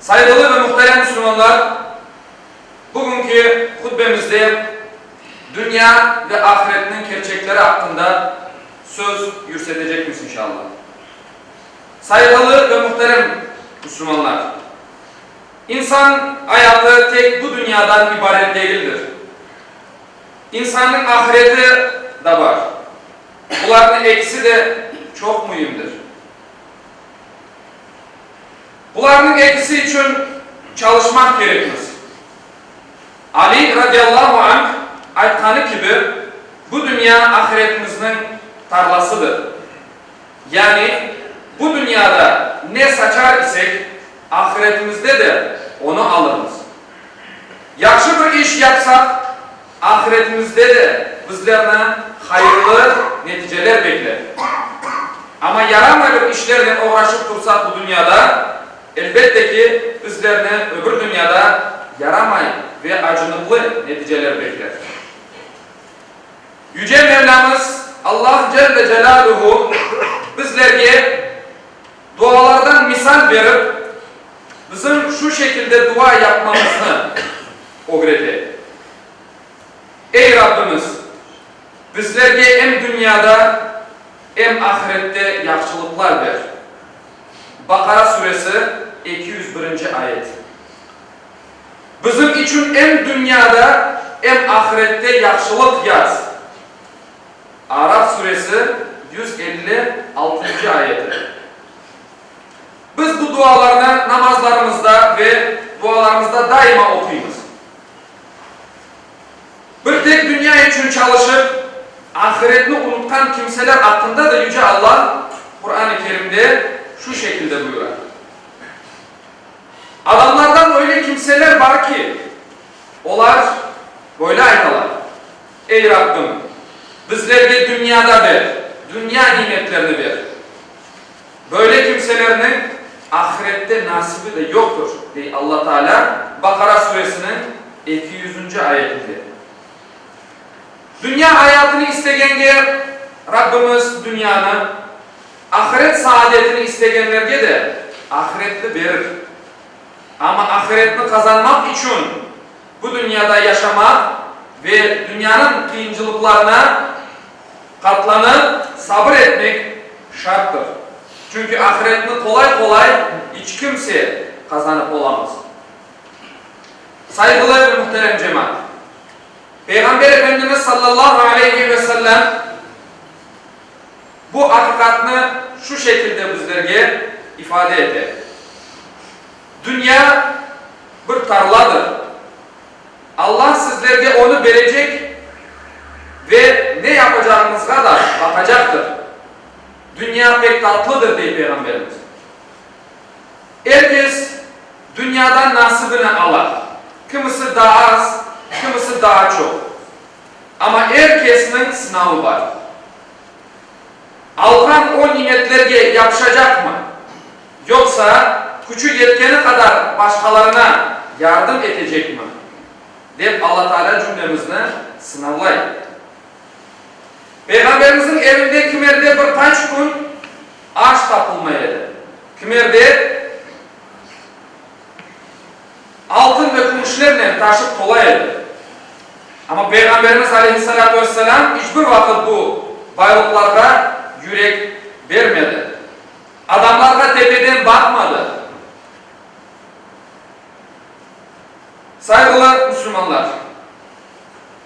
Sayğılı ve muhterem müslümanlar, bugünki hutbemizde dünya ve ahiretniñ kerçekleri aqqında söz yürsetecekmiz inşalla. Sayğılı ve muhterem müslümanlar, insan ayatı tek bu dünyadan ibaret degildir. İnsannıñ ahireti da bar. Bularnıñ ekisi de çoq müimdir. Bularnıñ episi içün çalışmaq kerekmiz. Ali radiallahu anh aytqanı kibi, bu dünya ahiretimizniñ tarlasıdır. Yani, bu dünyada ne saçar isek, ahiretimizde de onı alırmız. Yahşı bir iş yapsaq, ahiretimizde de bizlerni hayırlı neticeler bekler. Amma yaramay bir işlernen oğraşıp tursaq bu dünyada, elbette ki, bizlerni öbür dünyada yaramay ve acınıqlı neticeler bekler. Yüce Mevlamız Allah Celle Celâluhu bizlerge. Dualardan misal berip, bizim şu şekilde dua yapmamıznı ögrete, Ey Rabbimiz, bizlerge em dünyada, em ahirette yahşılıqlar ber. Baqara suresi, eki yüz birinci ayet. Bizim içün em dünyada, em ahirette yahşılıq yaz. Araf suresi yüz elli altıncı ayeti. Biz bu dualarnı namazlarımızda ve dualarımızda daima oquymız. Bir tek dünya içün çalışıp, ahiretni unutqan kimseler aqqında da Yüce Alla Quran-ı Kerimde şu şekilde buyura, Adamlardan öyle kimseler bar ki, olar böyle aytalar, Ey Rabbim, bizlerge dünyada ber, dünya nimetlerini ber. Böyle kimselerniñ ahirette nasibi de yoqtur, dey Alla Taalâ Baqara suresiniñ eki yüzünci ayetinde. Dünya ayatını istegenge Rabbimiz dünyanı, ahiret saadetini istegenlerge de ahiretni berir. Amma ahiretni qazanmaq içün. Bu dünyada yaşamaq ve dünyanıñ qıyıncılıqlarına qatlanıp, sabır etmek şarttır. Çünki ahiretni qolay-qolay iç kimse qazanıp olamaz. Sayğılı ve muhterem cemaat! Peyğamber Efendimiz sallallahu aleyhi ve sellem bu aqiqatnı şu şekilde bizlerge ifade ete. Dünya bir tarladır. Alla sizlerge onı berecek ve ne yapacağıñızğa da baqacaqtır. Dünya pek tatlıdır, dey Peyğamberimiz. Er kes dünyadan nasibini ala, kimisi daa az, kimisi daa çoq. Amma er kesniñ sınavı bar. Alğan o nimetlerge yapışacaqmı? Yoqsa, küçü yetkeni qadar başqalarına yardım etecekmi? dep Alla Taalâ cümlemizni sınavlay. Peyğamberimizniñ evinde kimerde bir qaç kün aş tapılmay edi, kimerde altın ve kümüşlernen taşıp tola edi. Amma Peyğamberimiz aleyhissalâtu vesselâm iç bir vaqıt bu baylıqlarğa yürek bermedi. Adamlarğa tepeden baqmadı. Sayğılar, müslümanlar!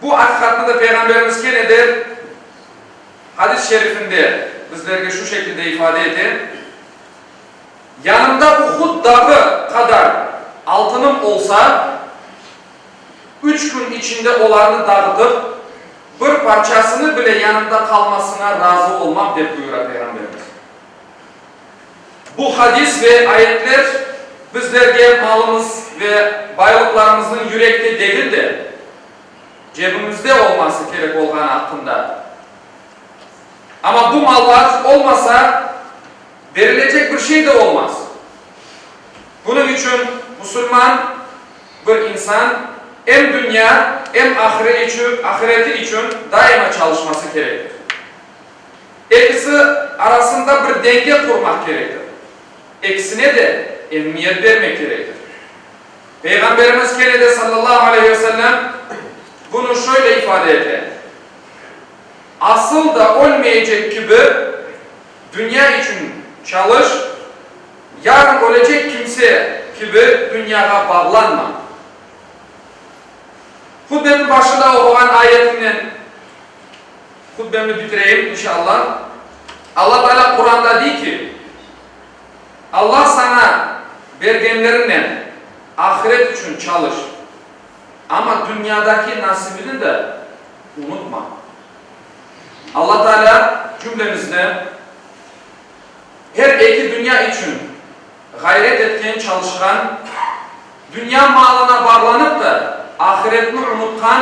Bu aqiqatnı da Peyğamberimiz kene de hadis şerifinde bizlerge şu şekilde ifade ete, Yanımda Uhud dağı qadar altınım olsa, üç kün içinde olarnı dağıtıp, bir parçasını bile yanımda qalmasına razı olmam, dep buyura Peyğamberimiz. Bu hadis ve ayetler bizlerge malımız ve baylıqlarımıznıñ yürekte degil de, cebimizde olması kerek olğanı aqqında, amma bu mallar olmasa, berilecek bir şey de olmaz. Bunıñ içün musulman bir insan em dünya, em ahireti içün daima çalışması kerektir. Ekisi arasında bir denge qurmaq kerektir. Ekisine de emiyet bermek kerektir. Peyğamberimiz kene de, sallallahu aleyhi ve sellem, bunı şöyle ifade ete, Asıl da ölmeyecek kibi, dünya içün çalış, yarın ölecek kimse kibi dünyağa bağlanma. Hutbenin başında oquğan ayetinden. Hutbemni bitireyim, inşa Alla. Alla Taalâ Quranda dey ki, Alla saña bergenleriñnen ahiret içün çalış, amma dünyadaki nasibiñi de unutma. Alla Taalâ cümlemizni her eki dünya içün ğayret etken, çalışqan, dünya malına bağlanıp da ahiretni unutqan,